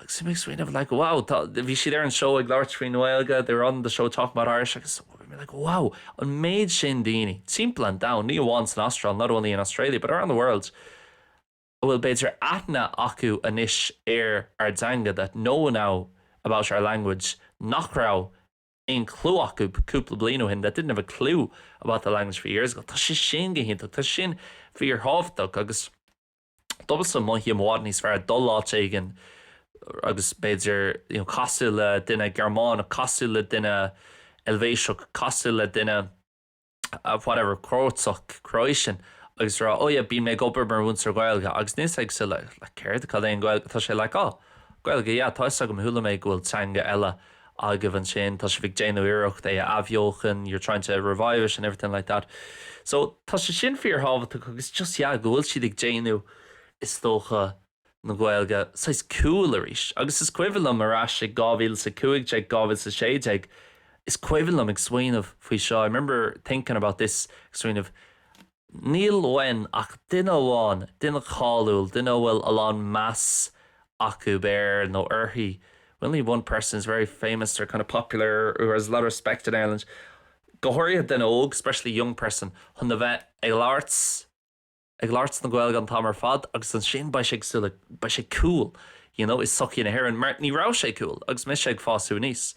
Agus mé ag smaoineamh like wow tá, bhí siad ar an seó ag labhairt faoin nGaeilge, they were on the show talking about Irish agus bhí mé like wow, an méid sin daoine, timpeall an domhain, ní amháin san Astráil, not only in Australia but around the world, a bhfuil b'fhéidir aithne acu anois ar ár dteanga, that know now about our language, nach raibh aon chliú acu cúpla bliain ó shin, that didn't have a clue about the language a few years ago. Tá sé sin go hiontach, tá sin fíorthábhachtach agus. Domsa, mothaím i bhfad níos fearr dul áit éigin agus b'fhéidir you know casadh le duine Gearmánach, casadh le duine Eilvéiseach, casadh le duine whatever Cróiteach, Croatian agus rá oh yeah bím mé ag obair mar mhúinteoir Gaeilge agus níl sé ag súil le like céard, cad é an Ghaeilge, tá sé like oh Gaeilge yeah tá fhios agam chuala mé go bhfuil teanga eile agaibh ansin, tá sibh ag déanamh iarracht é a athbheochan, you're trying to revive it and everything like that. So, tá sé sin fíorthábhachtach agus just, yeah, go bhfuil siad ag déanamh, is dócha, na Gaeilge saghas cool arís. Agus is cuimhin liom ar ais i dhá mhíle is a cúig déag, dhá mhíle is a sé déag, is cuimhin liom ag smaoineamh faoi seo, I remember thinking about this, ag smaoineamh, Níl uainn ach duine amháin, duine cáiliúil, duine a bhfuil a lán meas acu air nó uirthi, we only need one person who's very famous or kind of popular, who has a lot of respect in Ireland, go háirithe duine óg, especially young person, chun a bheith ag labhairt, ag labhairt na Gaeilge an t-am ar fad agus ansin beidh sé ag súil le, beidh sé cool, you know, i sochaí na hÉireann mar ní raibh sé cool agus mise ag fású aníos,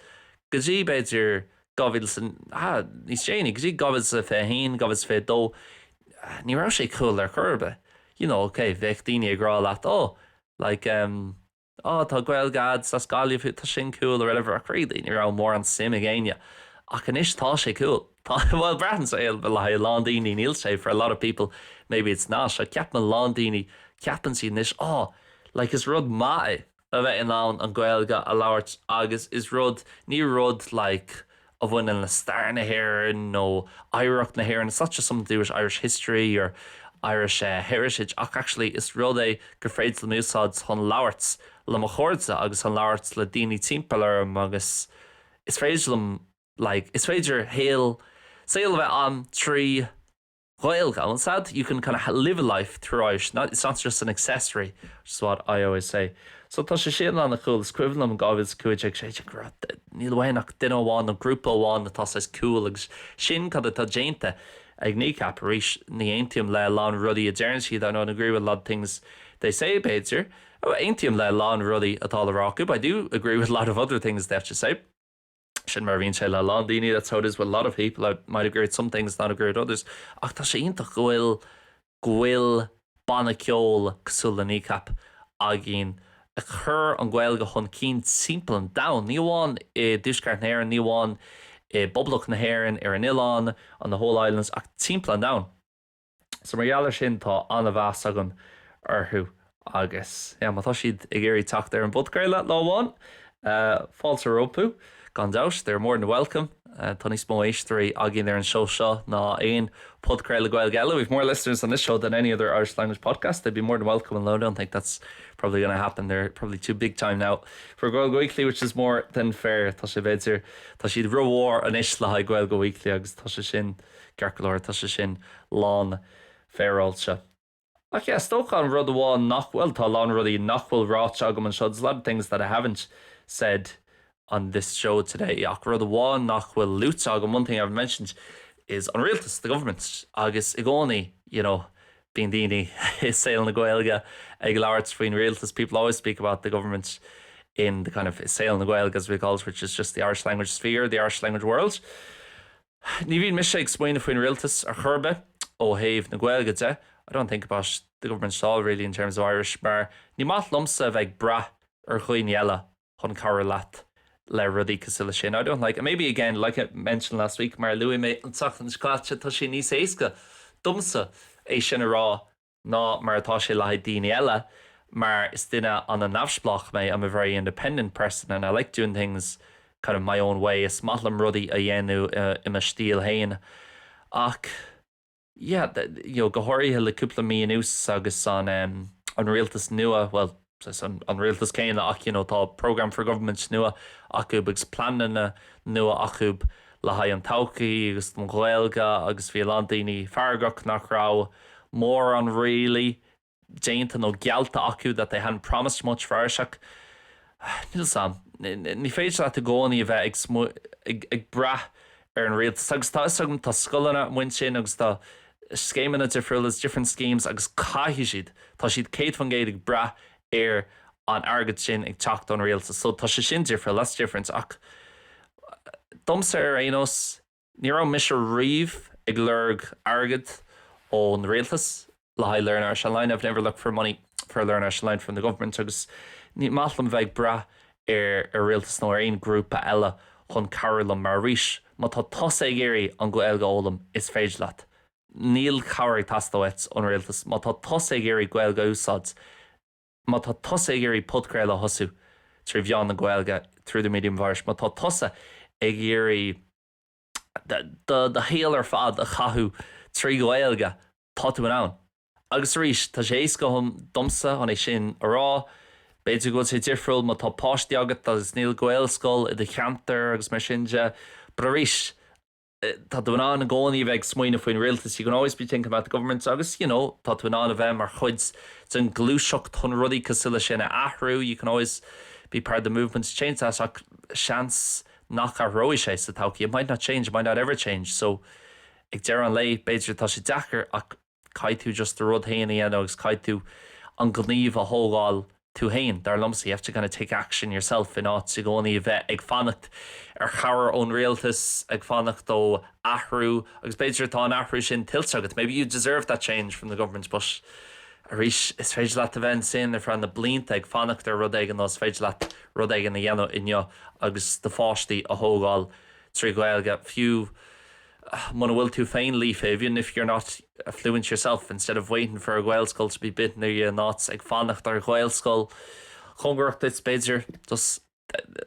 go dtí b'fhéidir 2000, níos déanaí, go dtí 2021, 2022, ní raibh sé cool ar chor ar bith. You know, ok, bheadh daoine ag rá leat, oh, like, em, oh, tá Gaeilge a'd, 's as Gaillimh thú, tá sin cool, or whatever, ach really, ní raibh mórán suim ag éinne. Ach anois, tá sé cool. Tá, bhuel, braitheann sé, le haghaidh a lán daoine, níl sé, for a lot of people, maybe it's not, ach ceapaim a lán daoine, ceapann siad anois, oh, like, is rud maith é, a bheith in ann an Ghaeilge a labhairt agus is rud, ní rud like a bhaineann le stair na hÉireann nó oidhreacht na hÉireann, it's not just something to do with Irish history or Irish eh heritage ach actually is rud é gur féidir liom úsáid chun labhairt le mo chairde agus chun labhairt le daoine timpeall orm agus is féidir liom like is féidir shaol saol a bheith ann trí Ghaeilge, ansin, you can kind of live a life through Irish, not, it's not just an accessory, which is what I always say. So tá sé sin an-chool. Is cuimhin liom in 2015 sé sin go raibh, níl uainn ach duine amháin nó grúpa amháin atá saghas cool agus sin cad atá déanta ag Kneecap arís. Ní aontaím le a lán rudaí a deireann siad, I don't agree with a lot of things they say, b'fhéidir. Aontaím le a lán rudaí atá le rá acu, but I do agree with a lot of other things they have to say. Sin mar a bhíonn sé le a lán daoine, that's how it is with a lot of people, I might agree with some things, not agree with others, ach tá sé iontach go bhfuil, go bhfuil banna ceoil cosúil le Kneecap againn ag cur an Ghaeilge chun cinn timpeall an domhain, ní amháin i dTuaisceart na hÉireann, ní amháin i bPoblacht na hÉireann, ar an oileán, on the whole islands, ach timpeall an domhain. So mar gheall ar sin tá an-mheas agam orthu agus yeah má tá siad ag iarraidh teacht ar an bpodcraoladh lá amháin fáilte rompu gan dabht, they're more than welcome. Tá níos mó éisteoirí againn ar an seó seo ná aon podcraoladh Gaeilge eile, we've more listeners on this show than any other Irish language podcast, they'd be more than welcome and I don't think that's probably going to happen, they're probably too big time now for Gaeilge Weekly which is more than fair, tá sé b'fhéidir tá siad rómhór anois le haghaidh Gaeilge Weekly agus tá sé sin Ceart go leor, tá sé sin lán-fhéaráilte. Ach yeah, is dócha an rud amháin nach bhfuil, tá a lán rudaí nach bhfuil ráite agam anseo, there's a lot of things that I haven't said on this show today, ach rud amháin nach bhfuil luaite agam, one thing I haven't mentioned, is an rialtas, the government. Agus i gcónaí, you know, bíonn daoine i saol na Gaeilge ag labhairt faoin rialtas, people always speak about the government in the kind of, i saol na Gaeilge as we call it, which is just the Irish language sphere, the Irish language world. Ní bhíonn mise ag smaoineamh faoin rialtas ar chor ar bith ó thaobh na Gaeilge de, I don't think about the government at all really in terms of Irish, mar ní maith liomsa a bheith ag brath ar dhaoine eile chun cabhrú leat le rudaí cosúil leis sin, I don't like, maybe again, like I mentioned last week, mar a luaigh mé an tseachtain seo caite, tá sé níos éasca domsa é sin a rá. ná mar atá sé le haghaidh daoine eile, mar is duine ana neamhspleách mé, I'm a very independent person and I like doing things kind of my own way, is maith liom rudaí a dhéanamh i mo stíl fhéin, ach yeah, you know, go háirithe le cúpla mí anuas agus an, em, an rialtas nua, well, Is an rialtas céanna ach you know tá programme for government nua acub agus pleananna nua acub le haghaidh an todhchaí agus don Ghaeilge agus bhí a lán daoine feargach nach raibh mórán really déanta nó geallta acu that they hadn't promised much for Irish ach níl 's agam, ní féidir leat i gcónaí a bheith ag brath ar an rialtas agus tá 'fhios agam tá scoileanna amuigh ansin agus tá scéimeanna difriúla 's different schemes agus caithfidh siad, tá siad céad faoin gcéad ag brath ar an airgead sin ag teacht ón rialtas so tá sé sin difriúil, that's different ach domsa ar aon nós ní raibh mise riamh ag lorg airgead ón rialtas. le haghaidh learn Irish online, I've never looked for money for learn Irish online from the government agus ní maith liom bheith ag brath ar ar rialtas nó ar aon grúpa eile chun cabhrú liom mar arís má tá tusa ag iarraidh an Ghaeilge a fhoghlaim is féidir leat. Níl cabhair ag teastáil uait ón rialtas má tá tusa ag iarraidh Gaeilge a úsáid. Má tá tusa ag iarraidh podchraoladh a thosú trí mheán na Gaeilge through the medium of Irish má tá tusa ag iarraidh do shaol ar fad a chaitheamh trí Ghaeilge, tá tú in ann. Agus arís, tá sé éasca domsa chun é sin a rá, b'fhéidir go bhfuil sé difriúil má tá páistí agat agus níl Gaelscoil i do cheantar agus mar sin de, but arís, tá tú in ann i gcónaí a bheith ag smaoineamh faoin rialtas, you can always be thinking about the government agus you know tá tú in ann a bheith mar chuid den ghluaiseacht chun rudaí cosúil leis sin a athrú, you can always be part of the movement to change that ach seans nach athróidh sé sa todhchaí, it might not change, it might not ever change, so ag deireadh an lae b'fhéidir tá sé deacair ach caithfidh tú just do rud féin a dhéanamh agus caithfidh tú an gníomh a thógáil tú féin, dar liomsa, you have to kind of take action yourself in áit i gcónaí a bheith ag fanacht ar chabhair ón rialtas, ag fanacht ó athrú agus b'fhéidir tá an athrú sin tuillte agat, maybe you deserve that change from the government but arís is féidir leat a bheith ansin ar feadh na blianta ag fanacht ar rud éigin nó is féidir leat rud éigin a dhéanamh inniu agus do pháistí a thógáil trí Ghaeilge fiú muna bhfuil tú féin líofa, even if you're not fluent yourself, instead of waiting for a Ghaelscoil to be built near you, in áit ag fanacht ar Ghaelscoil cóngarach duit b'fhéidir, just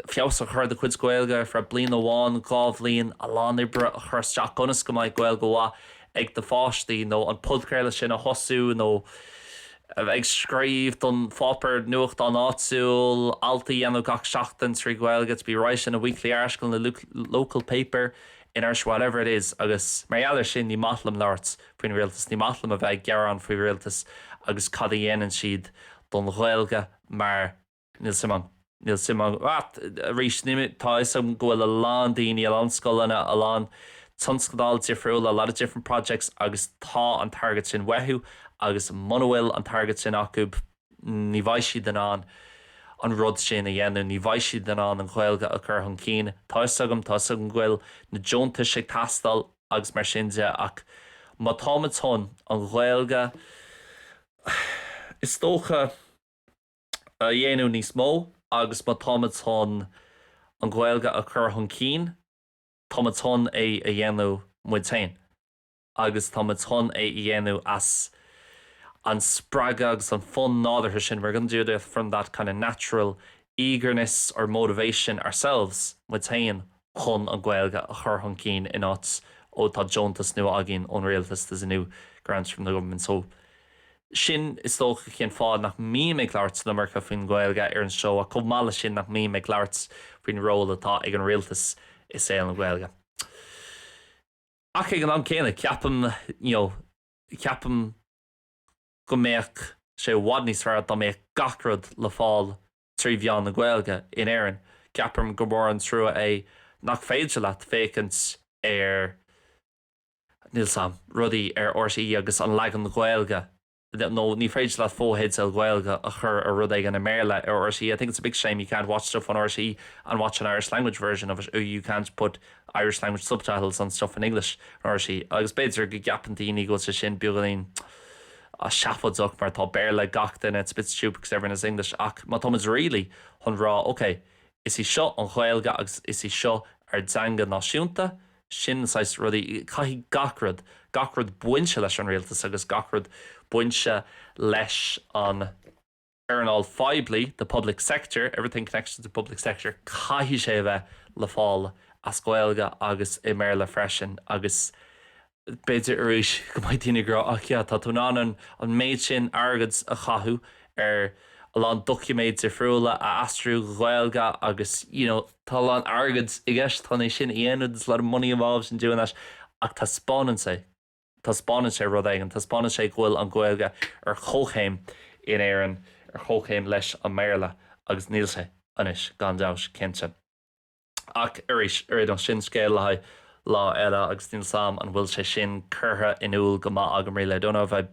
feabhas a chur do chuid Ghaeilge ar feadh bliana amháin, dhá bhliain, a lán oibre a chur isteach ionas go mbeidh Gaeilge mhaith ag do pháistí nó an podchraoladh sin a thosú nó a bheith ag scríobh don pháipéar nuachtán áitiúil, alt a dhéanamh gach seachtain trí Ghaeilge, to be writing a weekly article in the local paper in Irish, whatever it is. Agus mar gheall ar sin, ní maith liom labhairt faoin rialtas, ní maith liom a bheith ag gearán faoin rialtas agus cad a dhéanann siad don Ghaeilge mar. Níl 's 'am, níl 's 'am. Ach arís, tá 'fhios agam go bhfuil a lán daoine, a lán scoileanna, a lán tionscadal difriúil, a lot of different projects, agus tá an target sin uathu agus muna bhfuil an target sin acu, ní bheidh siad in ann an rud sin a dhéanamh. Ní bheidh siad in ann an Ghaeilge a chur chun cinn. Tá 'fhios agam. Tá 'fhios agam go bhfuil na deontais ag teastáil agus mar sin de ach má táimid chun an Ghaeilge, is dócha, a dhéanamh níos mó agus má táimid chun an Ghaeilge a chur chun cinn, táimid chun é a dhéanamh muid féin agus táimid chun é a dhéanamh as an spreagadh agus an fonn nádúrtha sin. We're going to do it from that kind of natural eagerness or motivation ourselves, muid féin, chun an Ghaeilge a chur chun cinn in áit ó tá deontas nua againn ón Rialtas there's a new grant from the Government so sin is dócha cén fáth nach mbím ag labhairt san iomarca faoin Ghaeilge ar an seó ach chomh maith leis sin nach mbím ag labhairt faoin ról atá ag an Rialtas i saol na Gaeilge ach ag an am céanna ceapaim you know ceapaim go mbeadh sé i bhfad níos fearr dá mbeadh gach rud le fáil trí mheán na Gaeilge in Éirinn. Ceapaim gur mór an trua é nach féidir leat féachaint ar, níl 's 'am, rudaí ar RTÉ agus an leagan Gaeilge, nó ní féidir leat fotheideal Gaeilge a chur ar rud éigin i mBéarla ar RTÉ. I think it's a big shame you can't watch stuff on RTÉ and watch an Irish language version of it, or you can't put Irish language subtitles on stuff in English, ar RTÉ, agus b'fhéidir go gceapann daoine go bhfuil sé sin beagáinín seafóideach mar tá Béarla ag gach duine it's a bit stupid because everyone has English ach má táimid really chun rá ok is í seo an Ghaeilge agus is í seo ár dteanga náisiúnta sin na saghas rudaí caithfidh gach rud gach rud bainte leis an rialtas agus gach rud bainte leis an earnáil phoiblí, the public sector, everything connected to the public sector caithfidh sé a bheith le fáil as Gaeilge agus i mBéarla freisin agus b'fhéidir arís go mbeidh daoine ag rá ach yeah tá tú in ann an méid sin airgead a chaitheamh ar a lán doiciméid difriúla a aistríú go Gaeilge agus you know tá a lán airgead i gceist chun é sin a dhéanamh there's a lot of money involved in doing that ach taispeánann sé Taispeánann sé rud éigin. Taispeánann sé go bhfuil an Ghaeilge ar chomhchéim in Éirinn, ar chomhchéim leis an mBéarla, agus níl sé anois, gan dabht, cinnte. Ach arís, sin scéal le haghaidh lá eile, agus níl 's 'am an bhfuil sé sin curtha in iúl go maith agam, rí le dona a bheith.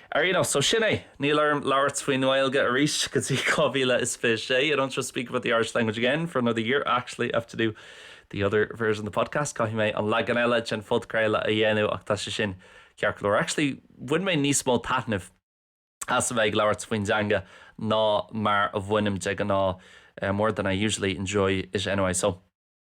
Ar aon nós, so sin é. Níl orm labhairt faoin nGaeilge arís go dtí 2026. I don't have to speak about the Irish language again for another year. Actually, I have to do the other version of the podcast. Caithfidh mé an leagan eile den phodchraoladh a dhéanamh ach tá sé sin ceart go leor. Actually, bhain mé níos mó taitnimh as a bheith ag labhairt faoin dteanga ná mar a bhainim de ghnáth. More than I usually enjoy it anyway, so.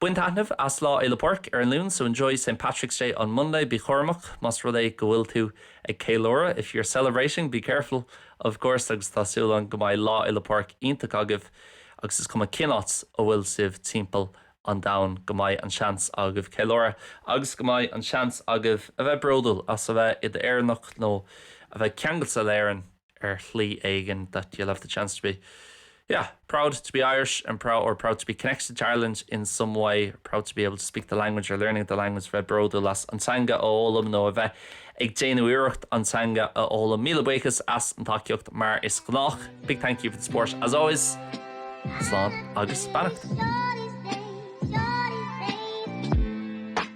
Bain taitneamh as Lá Fhéile Pádraig ar an Luan so enjoy St. Patrick's Day on Monday bí cúramach más rud é go bhfuil tú ag ceiliúradh if you're celebrating be careful of course agus tá súil agam go mbeidh Lá Fhéile Pádraig iontach agaibh agus is cuma cén áit a bhfuil sibh timpeall an domhain go mbeidh an seans agaibh ceiliúradh agus go mbeidh an seans agaibh a bheith bródúil as a bheith i d'Éireannach nó a bheith ceangailte le hÉirinn. ar shlí éigin that you'll have the chance to be yeah proud to be Irish and proud or proud to be connected to Ireland in some way, proud to be able to speak the language or learning the language bheith bródúil as an teanga a fhoghlaim nó a bheith ag déanamh iarracht an teanga a fhoghlaim. Míle buíochas as an tacaíocht mar is gnách. Big thank you for the support as always. Slán agus beannacht.